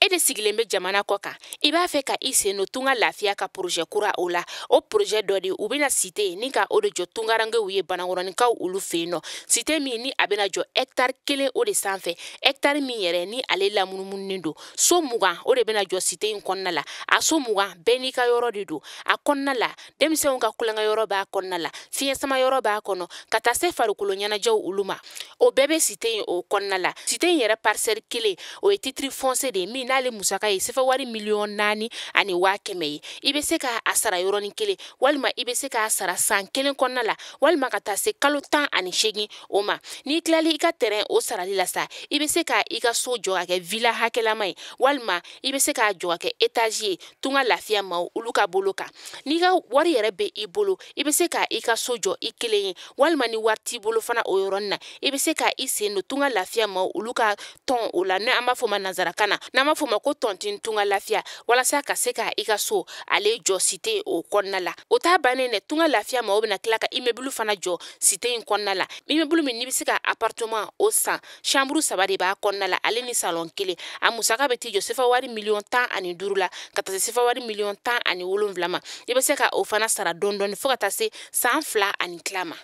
e de sigilen bɛ jamana kɔ kan i b'a fɛ ka i sen don tunga lafiya ka porozɛ kura o la o porozɛ dɔ de u bɛna site ni ka o de jɔ tungarankew ye banakɔrɔninkaw olu fɛ n'o site min ni a bɛna jɔ hɛkitari kelen o de sanfɛ hɛkitari min yɛrɛ ni ale lamunumununen don so mugan o de bɛna jɔ site in kɔnɔna la a so mugan bɛɛ n'i ka yɔrɔ de don a kɔnɔna la denmisɛnw ka tulonkɛyɔrɔ b'a kɔnɔna la fiɲɛ sama yɔrɔ b'a kɔnɔ ka taa se farikolo ɲɛnajɛw olu ma o bɛɛ bɛ site in o kɔnɔna la site in yɛrɛ parisɛli kelen o ye titiri fɔnsiye de ye min n'ale musaka ye sefa wari miliyɔn naani ani waa kɛmɛ ye i bɛ se ka a sara yɔrɔnin kelen walima i bɛ se k'a sara san kelen kɔnɔna la walima ka taa se kalo tan ani seegin o ma n'i tilali i ka tɛrɛn o sarali la sa i bɛ se ka i ka so jɔ ka kɛ vila hakɛlama ye walima i bɛ se k'a jɔ ka kɛ etazi ye tunga lafiya maaw olu ka bolo kan n'i ka wari yɛrɛ be i bolo i be se ka i ka so jɔ i kelen ye walima ni wari t'i bolo fana o yɔrɔnin na i be se ka i sen don tunga lafiya maaw olu ka tɔn o la ni an b'a fɔ ma nansarakan na n'an b'a fɔ ma ko tɔntin tunga lafiya walasa ka se ka i ka so ale jɔ site o kɔnɔna la o t'a bannen dɛ tunga lafiya maaw bena tila ka imebulu fana jɔ site in kɔnɔna la imebulu min n'i be se ka aparteman o san samburu saba de b'a kɔnɔna la ale ni salɔn kelen a musaka bɛ t'i jɔ sefa wari miliyɔn tan ani duuru la ka taa se sefa wari miliyɔn tan ani wolonwula ma i bɛ se ka o fana sara dɔɔni dɔɔni fo ka taa se san fila ani tila ma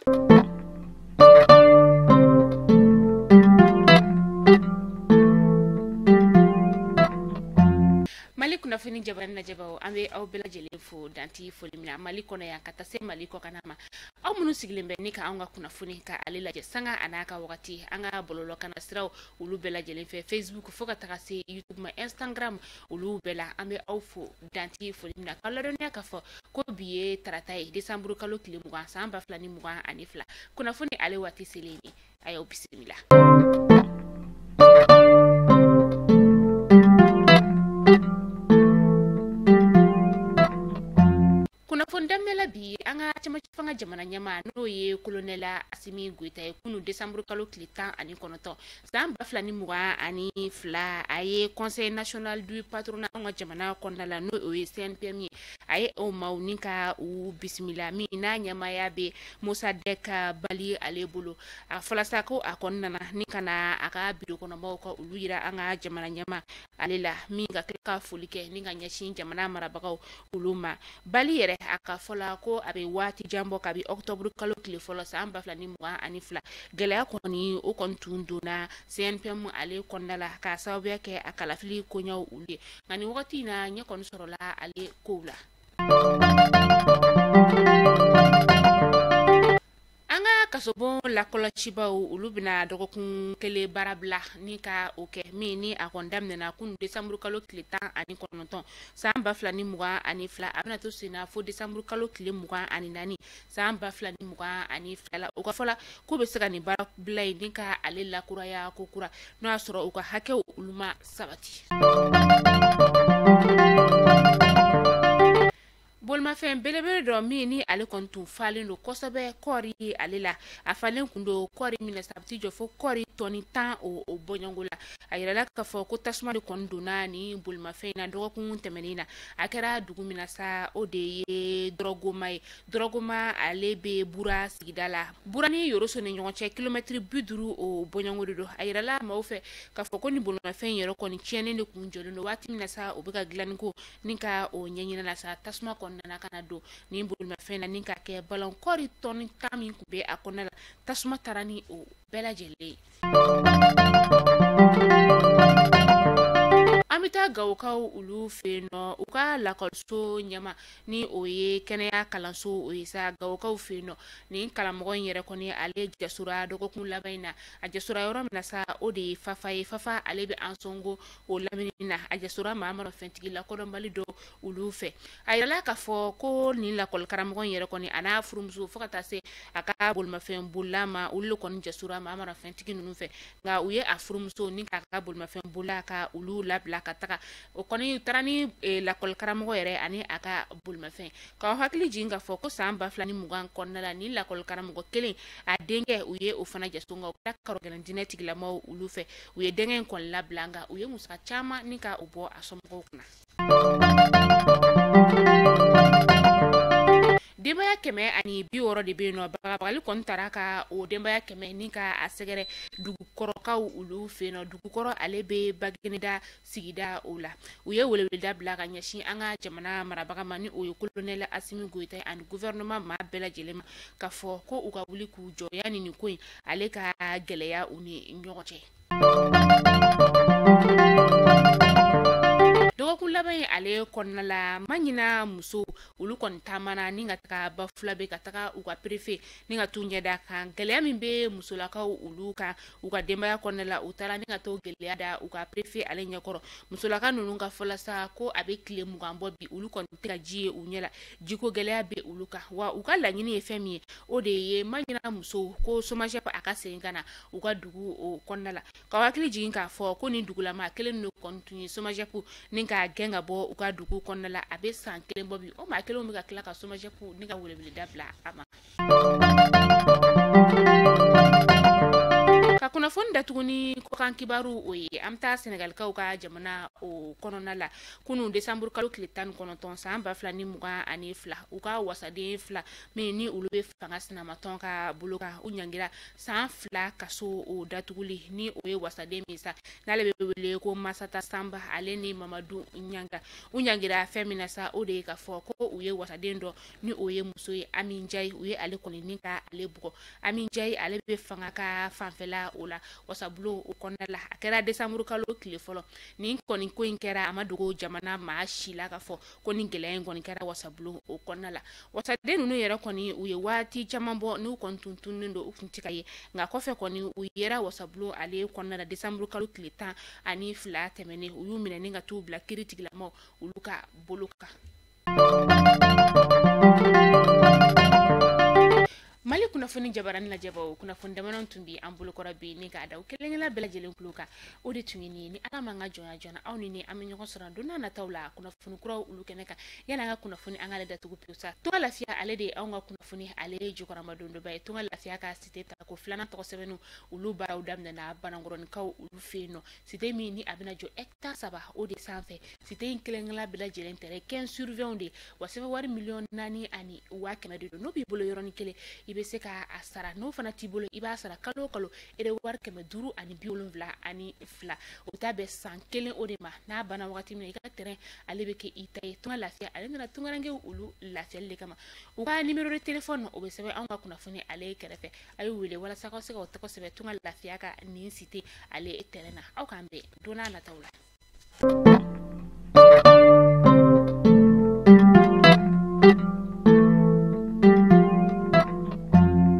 mali kunnafoni jabaranin lajɛbaaw an bɛ aw bɛɛ lajɛlen fo dan tɛ foli min na mali kɔnɔ yan ka taa se mali kɔkan ma aw minnu sigilen bɛ ni ka an ka kunnafoni ka ale lajɛ sanga an'a ka wagati an ka bɔlɔlɔ kana siraw olu bɛɛ lajɛlen fɛ facebook fo ka taga se youtube ma instagram olu bɛɛ la an bɛ aw fo dan tɛ foli min na k'aw ladɔnniya k'a fɔ ko bi ye tarata ye desanburu kalo tile mugan san ba fila ni mugan ani fila kunnafoni ale waati selen ye a y'aw bisimila kunnafoni daminɛ la bi an ka cɛmancɛ fanga jamana ɲɛmaa n'o ye kolonɛli asimi goyita ye kunu desanburu kalo tile tan ani kɔnɔntɔn san ba fila ni mugan ani fila a ye conseil national du patronat an ka jamana kɔnɔna la n'o ye cnpm ye a ye o maaw ni ka u bisimila min n'a ɲɛmaaya bɛ mosadɛki bali ale bolo a fɔla sa ko a kɔni nana ni ka na a ka biro kɔnɔmaaw ka olu yira an ka jamana ɲɛmaa ale la min ka tila ka foli kɛ ni ka ɲɛsin jamana marabagaw olu ma bali yɛrɛ a ka fɔla ko a bɛ waati jan bɔ kabi ɔkutɔburu kalo tile fɔlɔ san ba fila ni mugan ani fila gɛlɛya kɔni o kɔni tun donna cnpm ale kɔnɔna la k'a sababuya kɛ a kalafili koɲɛw olu ye nka nin wagati in na ɲɛ kɔni sɔrɔla ale kow la an ka kasobon lakɔlɔsibaaw olu bɛna dɔgɔkun kelen baara bila ni ka o kɛ min ni a kɔni daminɛna kunu desanburu kalo tile tan ani kɔnɔntɔn san ba fila ni mugan ani fila a bɛna to senna fo desanburu kalo tile mugan ani naani san ba fila ni mugan ani fila la u ka fɔ la k'u bɛ se ka nin baara bila in ni ka ale lakuraya ko kura n'o y'a sɔrɔ u ka hakɛw olu ma sabati. bolimafɛn belebele dɔ min ni ale kɔni tun falen don kosɛbɛ kɔɔri ale la a falen kun don kɔɔri min na sa a bɛ t'i jɔ fo kɔɔri tɔni tan o o bɔɲɔngo la a yirala k'a fɔ ko tasuma de kɔni donna nin bolimafɛn in na dɔgɔkun tɛmɛnen na a kɛra dugu min na sa o de ye dɔrɔgoma ye dɔrɔgoma ale bɛ bura sigida la bura ni yoroso ni ɲɔgɔn cɛ kilomɛtiri bi duuru o bɔɲɔngo de don a yirala maaw fɛ k'a fɔ ko nin bolimafɛn in yɛrɛ kɔni tiɲɛnen de kun jɔlen don waati min na sa o bɛ ka dilanni ko ni ka o ɲɛɲini la sa tasuma kɔni nana ka na don ni bolimafɛn na ni ka kɛ balan kɔɔri tɔni tan min kun bɛ a kɔnɔna la tasuma taara ni o bɛɛ lajɛlen ye an bɛ taa gawokaw olu fɛ yen nɔ u ka lakɔliso ɲɛmaa ni o ye kɛnɛya kalanso o ye sa gawokaw fɛ yen nɔ nin karamɔgɔ in yɛrɛ kɔni ale jasora dɔgɔkun laban in na a jasora yɔrɔ min na sa o de ye fafa ye fafa ale bɛ ansɔngo o lamini na a jasora maramafɛntigi lakodɔnbali dɔ olu fɛ a yirala k'a fɔ ko nin lakɔlikaramɔgɔ in yɛrɛ kɔni a n'a furumuso fo ka taa se a ka bolimafɛn bolila ma olu le kɔni jasora maramafɛntigi ninnu fɛ nka u ye a furumuso ni k'a ka bolimafɛn bolila ka olu labila ka taga u kɔni taara ni eh, lakɔlikaramɔgɔ yɛrɛ ani a ka bolimafɛn k'aw hakili jigin k'a fɔ ko san ba fila ni mugan kɔnɔna la nin lakɔlikaramɔgɔ kelen a denkɛ u ye o fana jaso nka o kɛra karɔgɛlɛn diinɛtigilamaw olu fɛ u ye denkɛ in kɔni labila nka u ye musaka caman ni ka o bɔ a somɔgɔw kunna denbaya kɛmɛ ani bi wɔɔrɔ de bɛ yen nɔ bagabagali kɔni taara ka o denbaya kɛmɛ ni ka a sɛgɛrɛ dugukɔrɔkaw olu fɛ yen nɔ dugukɔrɔ ale bɛ bagineda sigida o la u ye weleweleda bila ka ɲɛsin an ka jamana marabaga ma ni o ye kolonɛli asimi goyita ye ani guvɛrɛnɛma maa bɛɛ lajɛlen ma k'a fɔ ko u ka wuli k'u jɔ yani nin ko in ale ka gɛlɛya u ni ɲɔgɔn cɛ dɔgɔkun laban in ale kɔnɔna la mahina musow olu kɔni taamana ni ka taga bafulabɛ ka taga u ka perefe ni ka t'u ɲɛda kan gɛlɛya min bɛ musolakaw olu kan u ka denbaya kɔnɔna la u taara ni ka t'o gɛlɛya da u ka perefe ale ɲɛkɔrɔ musolaka ninnu ka fɔla sa ko a bɛ tile mugan bɔ bi olu kɔni tɛ ka ji ye u ɲɛ la jiko gɛlɛya bɛ olu kan wa u ka laɲini ye fɛn min ye o de ye mahina musow ko somajɛp a ka segin ka na u ka dugu o kɔnɔna la k'aw hakili jigin k'a fɔ ko nin dugulamaa kelen ninnu kɔni tun ye somajɛp ni k'a gɛn ka bɔ u ka dugu kɔnɔna la a bɛ san kelen bɔ bi o maa kelenw bɛ ka tila ka somajɛp ni ka weleweleda bila a ma ka kunnafoni datugu ni kɔkan kibaru o ye an bɛ taa senegalikaw ka jamana o kɔnɔna la kunu desanburu kalo tile tan ni kɔnɔntɔn san ba fila ni mugan ani fila u ka wasaden fila min ni olu bɛ fanga sinamatɔn ka bolo kan u ɲangira san fila kaso o datuguli ni o ye wasaden min sa n'ale bɛ wele ko masata sanba ale ni mamadu ɲanga u ɲangira fɛn min na sa o de ye ka fɔ ko u ye wasaden dɔ ni o ye muso ye Ami Njayi u ye ale kɔni ni ka ale bugɔ Ami Njayi ale bɛ fanga ka fanfɛla o la wasabulon o kɔnɔna la a kɛra décembre kalo tile fɔlɔ nin kɔni ko in kɛra a ma dogo jamana maa si la ka fɔ ko nin gɛlɛya in kɔni kɛra wasabulon o kɔnɔna la wasaden ninnu yɛrɛ kɔni u ye waati caman bɔ n'u kɔni tun tununnen don u tun tɛ ka ye nka kɔfɛ kɔni u yera wasabulon ale kɔnɔna la décembre kalo tile tan ani fila tɛmɛnen u y'u minɛ ni ka t'u bila kiri tigilamaw olu ka bolo kan mali kunnafoni jabaranin lajɛbaw kunnafoni damanin tun bɛ an bolokɔrɔ bi ni k'a da u kelenkelenna bɛɛ lajɛlen tulo kan o de tun ye nin ye ni ala ma an ka jɔnya jɔna aw ni ni an bɛ ɲɔgɔn sɔrɔ don n'a nataw la kunnafoni kuraw olu kɛnɛ kan yani an ka kunnafoni an k'ale datugu pewu sa tunga lafiya ale de ye anw ka kunnafoni ale ye jukɔrɔmadondonbaa ye tunga lafiya ka site tako filanan tɔgɔ sɛbɛnniw olu baaraw daminɛna banankɔrɔnikaw olu fɛ yen nɔ site min ni a bɛna jɔ hectare saba o de sanfɛ site in kelenkelenna bɛɛ lajɛlen tɛrɛn 15 sur 20 de wa sefa wari miliyɔn naani ani waa kɛmɛ de don n'o b'i bolo yɔrɔnin kelen i bɛ se ka a sara n'o fana t'i bolo i b'a sara kalo o kalo ero wari kɛmɛ duuru ani bi wolonwula ani fila o taa bɛn san kelen o de ma n'a banna wagati min na i ka tɛrɛn ale bɛ kɛ i ta ye tunga lafiya ale nana tungarankew olu lafiyali de kama u ka nimero de telefɔni o bɛ sɛbɛn anw ka kunnafoni ale kɛrɛfɛ a y'u wele walasa aw ka se ka aw tɔgɔ sɛbɛn tunga lafiya ka nin site ale tɛrɛn na aw k'an bɛn don n'a nataw la